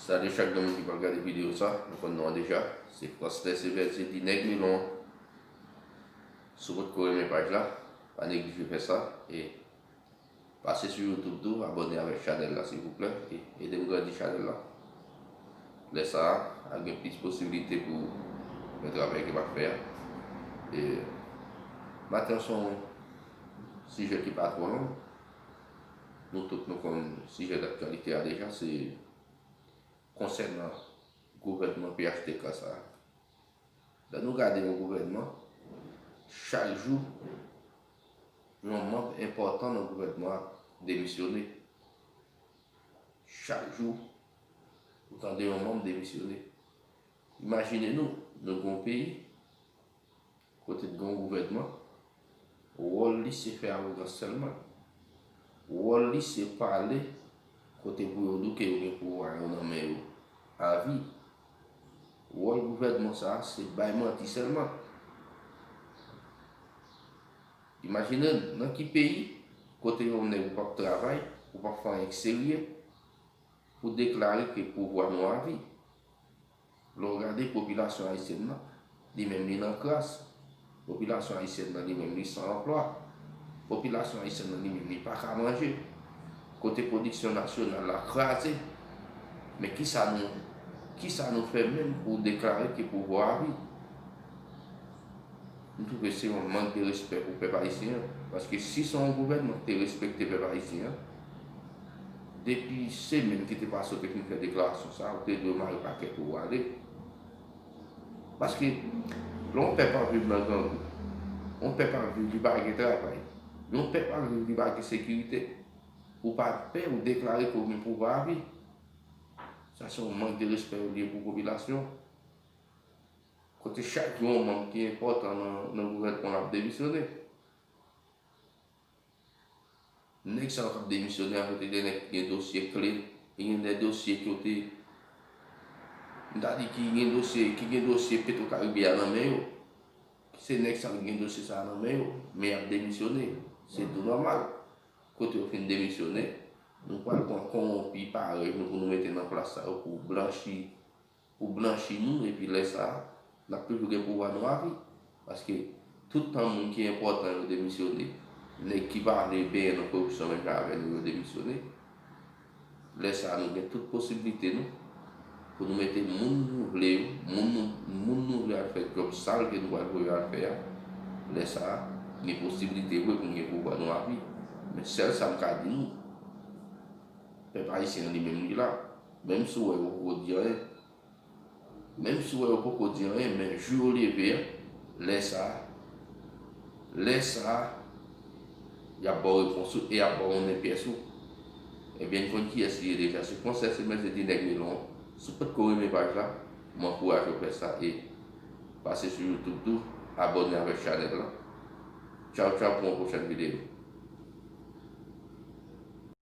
Sa de chak granmoun ki pa gade video sa, nou konn non an deja, se Prosper Sévère di li nèg Milon an. Si w potko renmen paj la, pa neglije fè sa e pase sou YouTube tou abòne avèk chanèl la silvouplè e ede m grandi chanèl la. Lè sa a, ap gen plis posibilite pou fè travay ke m ap fè a. E maten an se yon sijè ki pa twò long. Nou tout nou konn sijè daktyalite a deja se konsènan gouvènman phtk sa a. Lè nou gade yon gouvènman, chak jou yon manb enpòtan nan gouvènman an demisyone. Chak jou ou tande yon manb demisyone. Imajine nou, nou gen yon peyi Kote t gon gouvènman, wòl li se fè awogans sèlman. Wòl li se pale kote pou yo douke yo gen pouvwa yo nan men yo avi. Wòl gouvènman sa a se bay manti sèlman. Imajine n, nan ki peyi kote yon nèg ou p ap travay, ou p ap fè anyen k serye pou deklare ke pouvwa nou avi. Lè w gade popilasyon ayisyèn nan, li menm li nan kras. Popilasyon ayisyèn nan li menm li san anplwa. Popilasyon ayisyèn nan li menm li pa ka manje. Kote pwodiksyon nasyonal la kraze. Men ki sa nou ki sa nou fè menm pou deklare ke pouvwa a vide? M twouve se yon mank de respè pou pèp ayisyen an, paske si se yon gouvènman ki te respekte pèp ayisyen an, depi semèn ki te pase ou te fin fè deklarasyon sa a, ou te dwe mare pakèt ou ale. Paske lè yon pèp ap viv nan grangou, yon pèp ap viv li pa gen travay, yon pèp ap viv li pa gen sekirite, ou pa pè ou deklare ke ou gen pouvwa avi. Sa se yon mank de respè yo liye pou popilasyon an. Kote chak yon manm ki enpòtan nan gouvènman an ap demisyone. Nèg sa yo k ap demisyone a, yo te gen nèg ki gen dosye kle, ki gen de dosye ki yo te, m ta di ki gen dosye, ki gen dosye Petro Caribe a nan men yo. Se nèg sa yo ki gen dosye sa a nan men yo, men y ap demisyone. Se tou nòmal. Kote yo fin demisyone, nou pral pran kowonpi parèy nou pou nou mete nan plas sa yo pou blanchi Pou blanchi nou epi lè sa a, n ap toujou gen pouvwa nou avi. Paske, tout tan moun ki enpòtan yo demisyone, nèg ki pa vle benyen nan koripsyon menm jan avè nou yo demisyone, lè sa a nou gen tout posiblite nou pou nou mete moun nou vle yo, moun nou moun nou vle al fè djòb sal ke nou pral voye yo al fè a, lè sa a, gen posiblite vre pou n gen pouvwa nou avi. Men sèl sa m ka di nou, pèp ayisyen an li menm li la. Menm si w wè yo poko di anyen Menm si w wè yo poko di anyen men jou yo leve a lè sa a lè sa a y ap ba w repons ou e y ap ba w yon nepyès ou Ebyen n konn kiyès li ye deja se konsèy se mèt se di nèg milon an Si w potko renmen paj la m ankouraje w fè sa e pase sou youtube tou abòne avèk chanèl la Tchaw tchaw pou yon pwochèn videyo.